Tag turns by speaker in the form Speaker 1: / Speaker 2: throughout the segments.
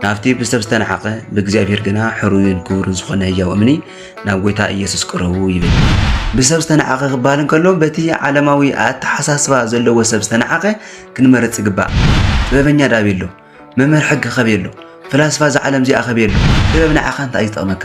Speaker 1: ናብቲ ብሰብ ዝተነሓቐ ብእግዚኣብሔር ግና ሕሩይን ክቡርን ዝኾነ ህያው እምኒ ናብ ጎይታ ኢየሱስ ቅረቡ ይብል። ብሰብ ዝተነሓቐ ክበሃል እንከሎ በቲ ዓለማዊ ኣተሓሳስባ ዘለዎ ሰብ ዝተነሓቐ ክንመርጽ ይግባእ። ጥበበኛ ዳቤሎ፣ መምህር ሕጊ ከቤሎ፣ ፍላስፋ እዛ ዓለም እዚኣ ከቤሎ፣ ጥበብ ንዓኻ እንታይ እዩ ዝጠቕመካ?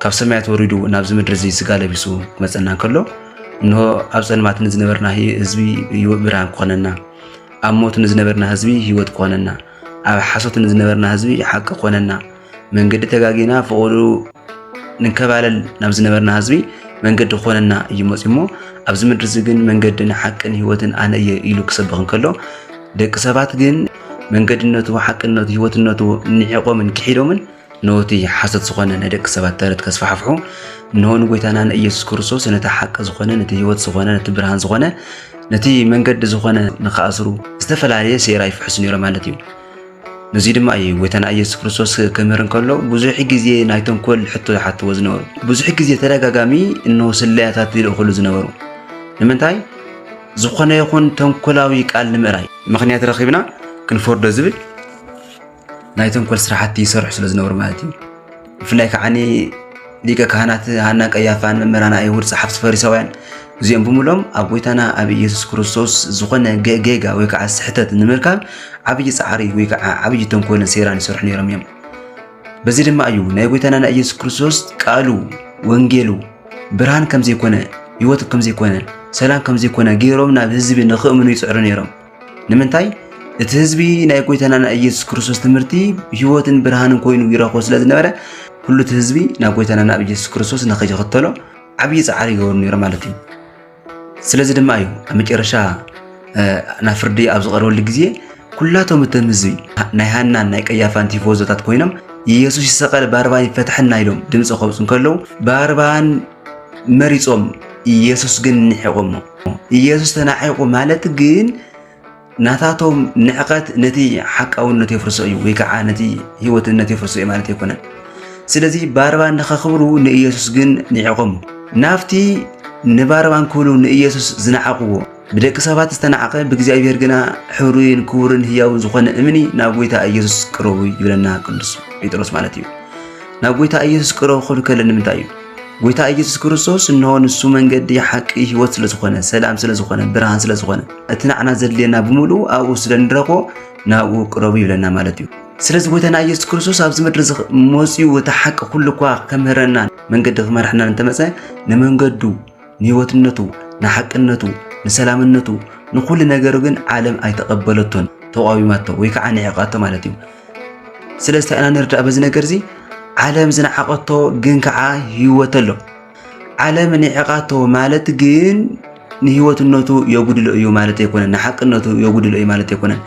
Speaker 1: ካብ ሰማያት ወሪዱ ናብዚ ምድሪ እዚ ስጋ ለቢሱ ክመፀና እንከሎ እንሆ ኣብ ፀልማት ንዝነበርና ህዝቢ ብርሃን ክኾነና፣ ኣብ ሞት ንዝነበርና ህዝቢ ህይወት ክኾነና፣ ኣብ ሓሶት ንዝነበርና ህዝቢ ሓቂ ክኾነና፣ መንገዲ ተጋጊና ፍቕሩ ንንከባለል ናብ ዝነበርና ህዝቢ መንገዲ ክኾነና እዩ መፅዩ እሞ ኣብዚ ምድሪ እዚ ግን መንገድን ሓቅን ህይወትን ኣነ እየ ኢሉ ክሰብኽ እንከሎ ደቂ ሰባት ግን መንገድነቱ፣ ሓቅነቱ፣ ህይወትነቱ ንዒቖምን ክሒዶምን እነሆ እቲ ሓሶት ዝኾነ ናይ ደቂ ሰባት ተረት ከስፋሕፍሑ እነሆ ንጎይታና ንኢየሱስ ክርስቶስ ነቲ ሓቂ ዝኾነ ነቲ ህይወት ዝኾነ ነቲ ብርሃን ዝኾነ ነቲ መንገዲ ዝኾነ ንክኣስሩ ዝተፈላለየ ሴራ ይፍሕሱ ነይሮ ማለት እዩ ነዚ ድማ እዩ ጎይታና ኢየሱስ ክርስቶስ ክምህር እንከሎ ብዙሕ ግዜ ናይ ተንኮል ሕቶ ዝሓትዎ ዝነበሩ ብዙሕ ግዜ ተደጋጋሚ እነሆ ስለያታት ይልእኽሉ ዝነበሩ ንምንታይ ዝኾነ ይኹን ተንኮላዊ ቃል ንምእራይ ምክንያት ረኺብና ክንፈርዶ ዝብል ናይ ተንኮል ስራሕቲ ይሰርሑ ስለ ዝነበሩ ማለት እዩ ብፍላይ ከዓ ሊቀ ካህናት ሃና ቀያፋን መምህራን ኣይሁድ ጸሓፍቲ ፈሪሳውያን እዚኦም ብምሎም ኣብ ጎይታና ኣብ ኢየሱስ ክርስቶስ ዝኾነ ጌጋ ወይ ከዓ ስሕተት ንምርካብ ዓብዪ ፃዕሪ ወይ ከዓ ዓብዪ ተንኮልን ሴራን ይሰርሑ ነይሮም እዮም በዚ ድማ እዩ ናይ ጎይታና ናይ ኢየሱስ ክርስቶስ ቃሉ ወንጌሉ ብርሃን ከም ዘይኮነ ህይወት ከም ዘይኮነ ሰላም ከም ዘይኮነ ገይሮም ናብ ህዝቢ ንኽእምኑ ይፅዕሩ ነይሮም ንምንታይ እቲ ህዝቢ ናይ ጎይታና ናይ ኢየሱስ ክርስቶስ ትምህርቲ ህይወትን ብርሃንን ኮይኑ ይረኽቦ ስለ ዝነበረ ኩሉ እቲ ህዝቢ ናብ ጎይታና ናብ ኢየሱስ ክርስቶስ ንኸይኽተሎ ዓብዪ ፃዕሪ ይገብሩ ነይሩ ማለት እዩ ስለዚ ድማ እዩ ኣብ መጨረሻ ናብ ፍርዲ ኣብ ዝቐርበሉ ግዜ ኩላቶም እቶም ህዝቢ ናይ ሃናን ናይ ቀያፋን ቲፎዞታት ኮይኖም ኢየሱስ ይሰቐል ባርባን ይፈትሐና ኢሎም ድምፂ ከውፅ እንከለዉ ባርባን መሪጾም ኢየሱስ ግን ንሒቖሞ ኢየሱስ ተናሒቑ ማለት ግን ናታቶም ንዕቐት ነቲ ሓቃውነት የፍርሶ እዩ ወይ ከዓ ነቲ ህይወትነት የፍርሶ እዩ ማለት ኣይኮነን ስለዚ ባርባ ንኸኽብሩ ንኢየሱስ ግን ንዒቖሞ ናብቲ ንባርባን ክብሉ ንኢየሱስ ዝነዓቕዎ ብደቂ ሰባት ዝተናዕቐ ብእግዚኣብሔር ግና ሕሩይን ክቡርን ህያውን ዝኾነ እምኒ ናብ ጎይታ ኢየሱስ ቅረቡ ይብለና ቅዱስ ጴጥሮስ ማለት እዩ። ናብ ጎይታ ኢየሱስ ቅረቡ ክብል ከለ ንምንታይ እዩ? ጎይታ ኢየሱስ ክርስቶስ እንሆ ንሱ መንገዲ ሓቂ ህይወት ስለ ዝኾነ ሰላም ስለ ዝኾነ ብርሃን ስለ ዝኾነ እቲ ናዕና ዘድልየና ብምሉኡ ኣብኡ ስለ ንረኽቦ ናብኡ ቅረቡ ይብለና ማለት እዩ። ስለዚ ጎይታና ኢየሱስ ክርስቶስ ኣብዚ ምድሪ መፅኡ እቲ ሓቂ ኩሉ እኳ ከምህረና መንገዲ ክመርሐና እንተመፀ ንመንገዱ ንህይወትነቱ፣ ንሓቅነቱ፣ ንሰላምነቱ፣ ንኹሉ ነገሩ ግን ዓለም ኣይተቐበለቶን፣ ተቋዊማቶ ወይ ከዓ ንዒቓቶ ማለት እዩ። ስለዚ እንታይ ኢና ንርዳእ በዚ ነገር እዚ ዓለም ዝነዓቐቶ ግን ከዓ ህይወት ኣሎ። ዓለም ንዒቓቶ ማለት ግን ንህይወትነቱ የጉድሎ እዩ ማለት ኣይኮነን፣ ንሓቅነቱ የጉድሎ እዩ ማለት ኣይኮነን።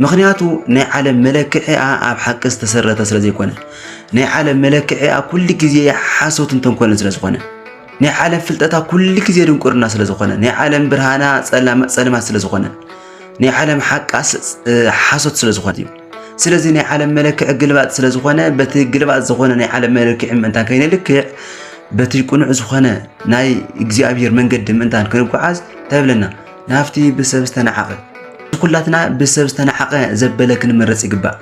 Speaker 1: ምክንያቱ ናይ ዓለም መለክዒኣ ኣብ ሓቂ ዝተሰረተ ስለ ዘይኮነ፣ ናይ ዓለም መለክዒኣ ኩሉ ግዜ ሓሶትን ተንኮልን ስለ ዝኾነ ናይ ዓለም ፍልጠታ ኩሉ ግዜ ድንቁርና ስለ ዝኾነ ናይ ዓለም ብርሃና ጸልማት ስለ ዝኾነ ናይ ዓለም ሓቃ ሓሶት ስለ ዝኾነ እዩ ስለዚ ናይ ዓለም መለክዒ ግልባጥ ስለ ዝኾነ በቲ ግልባጥ ዝኾነ ናይ ዓለም መለክዒ ምእንታን ከይነልክዕ በቲ ቅኑዕ ዝኾነ ናይ እግዚኣብሔር መንገዲ ምእንታን ክንጓዓዝ ተብለና ናብቲ ብሰብ ዝተናዓቐ ኩላትና ብሰብ ዝተናዓቐ ዘበለ ክንመረፅ ይግባእ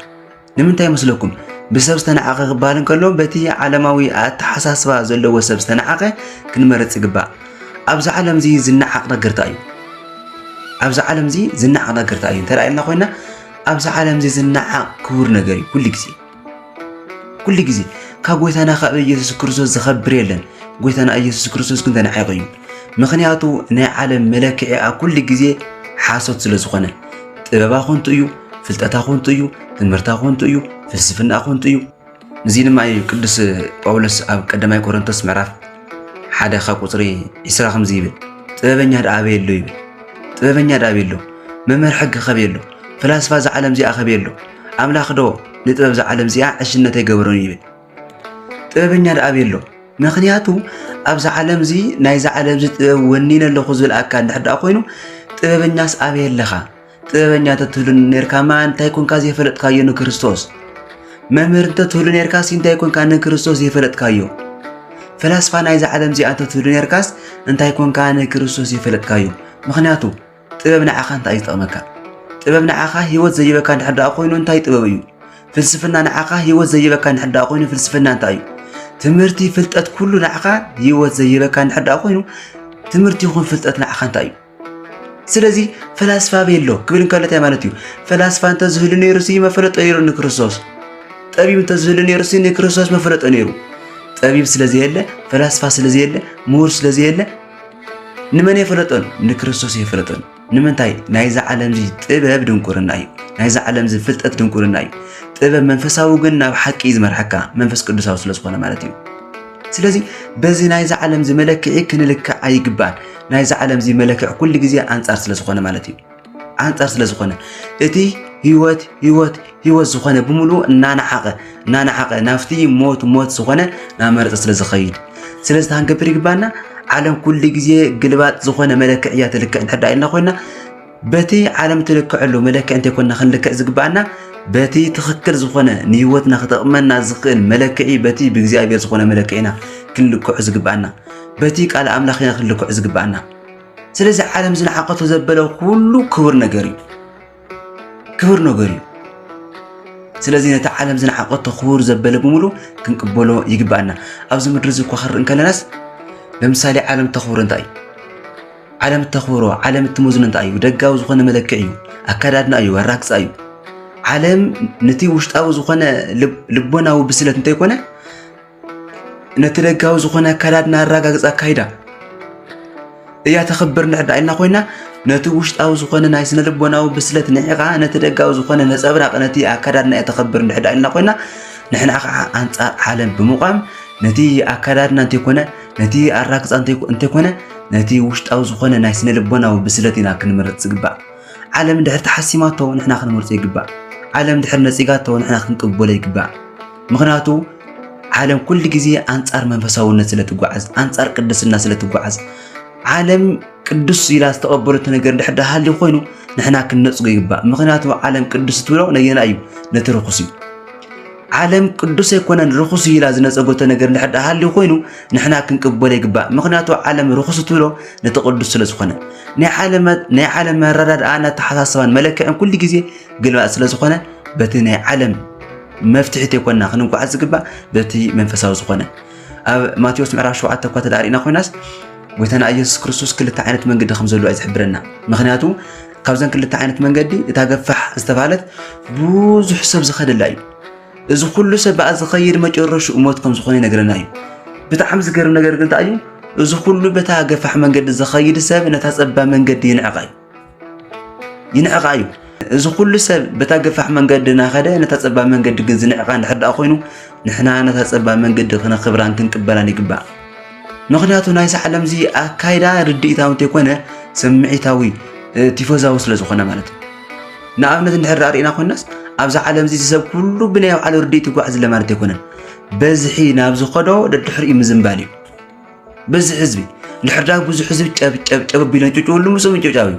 Speaker 1: ንምንታይ መስለኩም ብሰብ ዝተነዓቐ ክበሃል እንከሎ በቲ ዓለማዊ ኣተሓሳስባ ዘለዎ ሰብ ዝተነዓቐ ክንመርፅ ይግባእ ኣብዚ ዓለም እዚ ዝነዓቕ ነገርታ እዩ ኣብዚ ዓለም እዚ ዝነዓቕ ነገርታ እዩ እንተ ኢልና ኮይና ኣብዚ ዓለም እዚ ዝነዓቕ ክቡር ነገር እዩ ኩሉ ግዜ ኩሉ ግዜ ካብ ጎይታና ካብ ኢየሱስ ክርስቶስ ዝኸብር የለን ጎይታና ኢየሱስ ክርስቶስ ግን ተነዓይቑ እዩ ምክንያቱ ናይ ዓለም መለክዒኣ ኩሉ ግዜ ሓሶት ስለ ዝኾነ ጥበባ ኮንቱ እዩ ፍልጠታ ኮንቱ እዩ፣ ትምህርታ ኮንቱ እዩ፣ ፍልስፍና ኮንቱ እዩ። እዚ ድማ እዩ ቅዱስ ጳውሎስ ኣብ ቀዳማይ ቆሮንቶስ ምዕራፍ ሓደ ካብ ቁፅሪ ዒስራ ከምዚ ይብል ጥበበኛ ደኣ ኣበየ ኣሎ ይብል ጥበበኛ ደኣ ኣበየ ኣሎ መምህር ሕጊ ከበየ ኣሎ ፈላስፋ እዛ ዓለም እዚኣ ከበየ ኣሎ ኣምላኽ ዶ ንጥበብ እዛ ዓለም እዚኣ ዕሽነት ኣይገበሮን ይብል ጥበበኛ ደኣ ኣበየ ኣሎ ምክንያቱ ኣብዚ ዓለም እዚ ናይዚ ዓለም እዚ ጥበብ ወኒነ ኣለኹ ዝብል ኣካል እንድሕር ደኣ ኮይኑ ጥበበኛስ ኣበየ ኣለኻ ጥበበኛ ተትህሉኒ ኔርካማ እንታይ ኮንካ ዘይፈለጥካዮ ንክርስቶስ መምህር እንተትህሉ ኔርካስ እንታይ ኮንካ ንክርስቶስ ዘይፈለጥካዮ ፈላስፋ ናይዛ ዓለም እዚኣ እንተትህሉ ኔርካስ እንታይ ኮንካ ንክርስቶስ ዘይፈለጥካዮ ምክንያቱ ጥበብ ንዓኻ እንታይ እዩ ዝጠቕመካ ጥበብ ንዓኻ ህይወት ዘይበካ እንድሕር ደኣ ኮይኑ እንታይ ጥበብ እዩ ፍልስፍና ንዓኻ ህይወት ዘይበካ እንድሕር ደኣ ኮይኑ ፍልስፍና እንታይ እዩ ትምህርቲ ፍልጠት ኩሉ ንዓኻ ህይወት ዘይበካ እንድሕር ደኣ ኮይኑ ትምህርቲ ይኹን ፍልጠት ንዓኻ እንታይ እዩ ስለዚ ፈላስፋ ቤሎ ክብል እንከሎ እንታይ ማለት እዩ? ፈላስፋ እንተዝህሉ ነይሩሲ መፈለጦ ነይሩ ንክርስቶስ። ጠቢብ እንተዝህሉ ነይሩሲ ንክርስቶስ መፈለጦ ነይሩ። ጠቢብ ስለዘየለ፣ ፈላስፋ ስለዘየለ፣ ምሁር ስለዘየለ ንመን የፈለጦን? ንክርስቶስ የፈለጦን። ንምንታይ? ናይዛ ዓለም እዚ ጥበብ ድንቁርና እዩ። ናይዛ ዓለም እዚ ፍልጠት ድንቁርና እዩ። ጥበብ መንፈሳዊ ግን ናብ ሓቂ እዩ ዝመርሓካ መንፈስ ቅዱሳዊ ስለዝኾነ ማለት እዩ። ስለዚ በዚ ናይዚ ዓለም እዚ መለክዒ ክንልክዕ ኣይግባን። ናይዚ ዓለም እዚ መለክዕ ኩሉ ግዜ ኣንጻር ስለ ዝኾነ ማለት እዩ። ኣንጻር ስለ ዝኾነ እቲ ህይወት ህይወት ህይወት ዝኾነ ብምሉኡ እናነዓቐ እናነዓቐ ናብቲ ሞት ሞት ዝኾነ ናመረፀ ስለ ዝኸይድ ስለዚ ታንገብር ይግባና ዓለም ኩሉ ግዜ ግልባጥ ዝኾነ መለክዕ እያ ትልክዕ እንድሕር ኢልና ኮይና በቲ ዓለም እትልክዐሉ መለክዒ እንተይኮንና ክንልክዕ ዝግብኣና በቲ ትኽክል ዝኾነ ንህይወትና ክጠቕመና ዝኽእል መለክዒ በቲ ብእግዚኣብሔር ዝኾነ መለክዒ ኢና ክንልክዑ ዝግብኣና በቲ ቃል ኣምላኽ ኢና ክንልክዑ ዝግብኣና ስለዚ ዓለም ዝነዓቐቶ ዘበለ ኩሉ ክቡር ነገር እዩ ክቡር ነገር እዩ ስለዚ ነቲ ዓለም ዝነዓቐቶ ክቡር ዘበለ ብምሉ ክንቅበሎ ይግብኣና ኣብዚ ምድሪ እዚ እኳ ክንርኢ እንከለናስ ለምሳሌ ዓለም ተኽብሮ እንታይ እዩ ዓለም እተኽብሮ ዓለም እትመዝኖ እንታይ እዩ? ደጋዊ ዝኾነ መለክዒ እዩ፣ ኣከዳድና እዩ፣ ኣራግፃ እዩ። ዓለም ነቲ ውሽጣዊ ዝኾነ ልቦናዊ ብስለት እንተይኮነ ነቲ ደጋዊ ዝኾነ ኣከዳድና ኣረጋግፃ ኣካይዳ እያ ተኽብር ንዕዳ ኢልና ኮይና ነቲ ውሽጣዊ ዝኾነ ናይ ስነ ልቦናዊ ብስለት ንዒኻ ነቲ ደጋዊ ዝኾነ ነፀብራቕ ነቲ ኣከዳድና እያ ተኽብር ንዕዳ ኢልና ኮይና ንሕና ከዓ ኣንፃር ዓለም ብምቋም ነቲ ኣከዳድና እንተይኮነ ነቲ ኣራግጻ እንተይኮነ ነቲ ውሽጣዊ ዝኾነ ናይ ስነ ልቦናዊ ብስለት ኢና ክንመርጽ ዝግባእ ዓለም ድሕር ተሓሲማቶ ንሕና ክንመርጾ ይግባእ ዓለም ድሕር ነጺጋቶ ንሕና ክንቅበሎ ይግባእ ምክንያቱ ዓለም ኩሉ ግዜ ኣንጻር መንፈሳውነት ስለ ትጓዓዝ ኣንጻር ቅድስና ስለ ትጓዓዝ ዓለም ቅዱስ ኢላ ዝተቐበለቶ ነገር ድሕር ዳሃልዩ ኮይኑ ንሕና ክንነጽጎ ይግባእ ምክንያቱ ዓለም ቅዱስ ትብሎ ነየና እዩ ነቲ ርኹስ እዩ ዓለም ቅዱስ ኣይኮነን ርኹስ እዩ ኢላ ዝነጸጎቶ ነገር እንድሕር ደኣ ሃልዩ ኮይኑ ንሕና ክንቅበሎ ይግባእ። ምኽንያቱ ዓለም ርኹስ እትብሎ ነቲ ቅዱስ ስለ ዝኾነ ናይ ዓለም ናይ ዓለም ኣረዳድኣን ኣተሓሳስባን መለክዕን ኩሉ ግዜ ግልባጥ ስለ ዝኾነ በቲ ናይ ዓለም መፍትሒ ተይኮንና ክንጓዓዝ ዝግባእ በቲ መንፈሳዊ ዝኾነ ኣብ ማቴዎስ ምዕራፍ 7 እኳ ተዳሪእና ኮይናስ ጎይታና ኢየሱስ ክርስቶስ ክልተ ዓይነት መንገዲ ከም ዘሎ እዩ ዝሕብረና ምኽንያቱ ካብዘን ክልተ ዓይነት መንገዲ እታ ገፋሕ ዝተባህለት ብዙሕ ሰብ ዝኸደላ እዩ እዚ ኩሉ ሰብ በኣ ዝኸይድ መጨረሽኡ ሞት ከም ዝኾነ ይነግረና እዩ ብጣዕሚ ዝገርም ነገር ግን እንታይ እዩ እዚ ኩሉ በታ ገፋሕ መንገዲ ዝኸይድ ሰብ ነታ ፀባብ መንገዲ ይንዕቃ እዩ ይንዕቃ እዩ እዚ ኩሉ ሰብ በታ ገፋሕ መንገዲ እናኸደ ነታ ፀባብ መንገዲ ግን ዝንዕቃ እንድሕር ደኣ ኮይኑ ንሕና ነታ ፀባብ መንገዲ ክነኽብራን ክንቅበላን ይግባእ ምኽንያቱ ናይ ሳሕለም እዚ ኣካይዳ ርድኢታዊ እንተይኮነ ስምዒታዊ ቲፎዛዊ ስለ ዝኾነ ማለት እዩ ንኣብነት እንድሕር ርእና ኮናስ ኣብዚ ዓለም እዚ ሰብ ኩሉ ብናይ ባዕሉ ርድኢት ይጓዓዝ ኣሎ ማለት ኣይኮነን በዝሒ ናብ ዝኸዶ ደድሕሪኡ ምዝንባል እዩ በዝሒ ህዝቢ እንድሕር ዳ ብዙሕ ህዝቢ ጨብጨብጨብ ኣቢሎ ጭጭወሉ ምስኡ ምጭብጫብ እዩ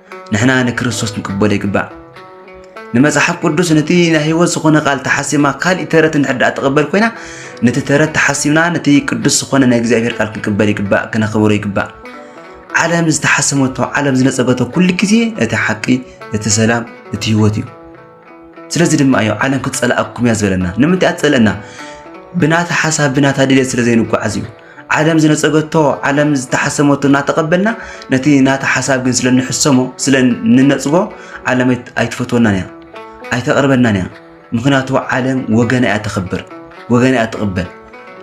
Speaker 1: ንሕና ንክርስቶስ ንቅበሎ ይግባእ። ንመጽሓፍ ቅዱስ ነቲ ናይ ህይወት ዝኾነ ቃል ተሓሲማ ካልእ ተረት እንድሕር ትቕበል ኮይና ነቲ ተረት ተሓሲምና ነቲ ቅዱስ ዝኾነ ናይ እግዚኣብሔር ቃል ክንቅበል ይግባእ፣ ክነኽብሮ ይግባእ። ዓለም ዝተሓሰመቶ ዓለም ዝነጸገቶ ኩሉ ግዜ እቲ ሓቂ እቲ ሰላም እቲ ህይወት እዩ። ስለዚ ድማ እዩ ዓለም ክትጸልኣኩም እያ ዝበለና። ንምንታይ ኣትጸልእና? ብናታ ሓሳብ ብናታ ድሌት ስለ ዘይንጓዓዝ እዩ። ዓለም ዝነጸገቶ ዓለም ዝተሓሰመቶ እናተቐበልና ነቲ ናታ ሓሳብ ግን ስለ ንሕሰሞ ስለ ንነጽጎ ዓለም ኣይትፈትወናን እያ ኣይተቕርበናን እያ። ምክንያቱ ዓለም ወገና እያ ተኽብር ወገና እያ ትቕበል።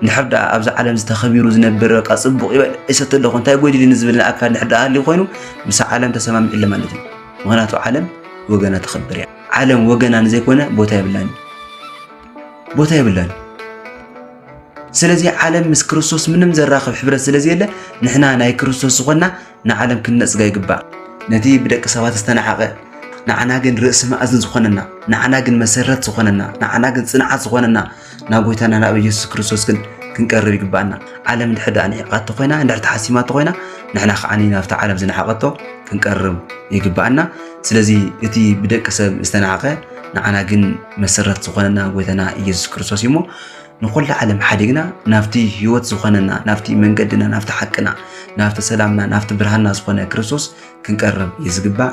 Speaker 1: ንድሕር ደኣ ኣብዚ ዓለም ዝተኸቢሩ ዝነብር በቃ ጽቡቕ ይበል እሰተ ኣለኹ እንታይ ጎዲልኒ ዝብልን ኣካል ንድሕር ደኣ ሃልዩ ኮይኑ ምስ ዓለም ተሰማሚዑ ኣሎ ማለት እዩ። ምክንያቱ ዓለም ወገና ተኸብር እያ ዓለም ወገና ንዘይኮነ ቦታ የብላን ቦታ የብላን ስለዚ ዓለም ምስ ክርስቶስ ምንም ዘራኽብ ሕብረት ስለዘየለ ንሕና ናይ ክርስቶስ ዝኾና ንዓለም ክንነፅጋ ይግባእ ነቲ ብደቂ ሰባት ዝተናሓቐ ንዓና ግን ርእሲ መኣዝን ዝኾነና ንዓና ግን መሰረት ዝኾነና ንዓና ግን ፅንዓት ዝኾነና ናብ ጎይታና ናብ ኢየሱስ ክርስቶስ ግን ክንቀርብ ይግባኣና ዓለም እንድሕር ደኣ ንዒቓቶ ኮይና እንድሕር ተሓሲማቶ ኮይና ንሕና ከዓ ናብቲ ዓለም ዝነሓቐቶ ክንቀርብ ይግባኣና ስለዚ እቲ ብደቂ ሰብ ዝተናሓቐ ንዓና ግን መሰረት ዝኾነና ጎይታና ኢየሱስ ክርስቶስ እዩ እሞ ንኩሉ ዓለም ሓዲግና ናብቲ ህይወት ዝኾነና ናብቲ መንገድና ናብቲ ሓቅና ናብቲ ሰላምና ናብቲ ብርሃንና ዝኾነ ክርስቶስ ክንቀርብ እዩ ዝግባእ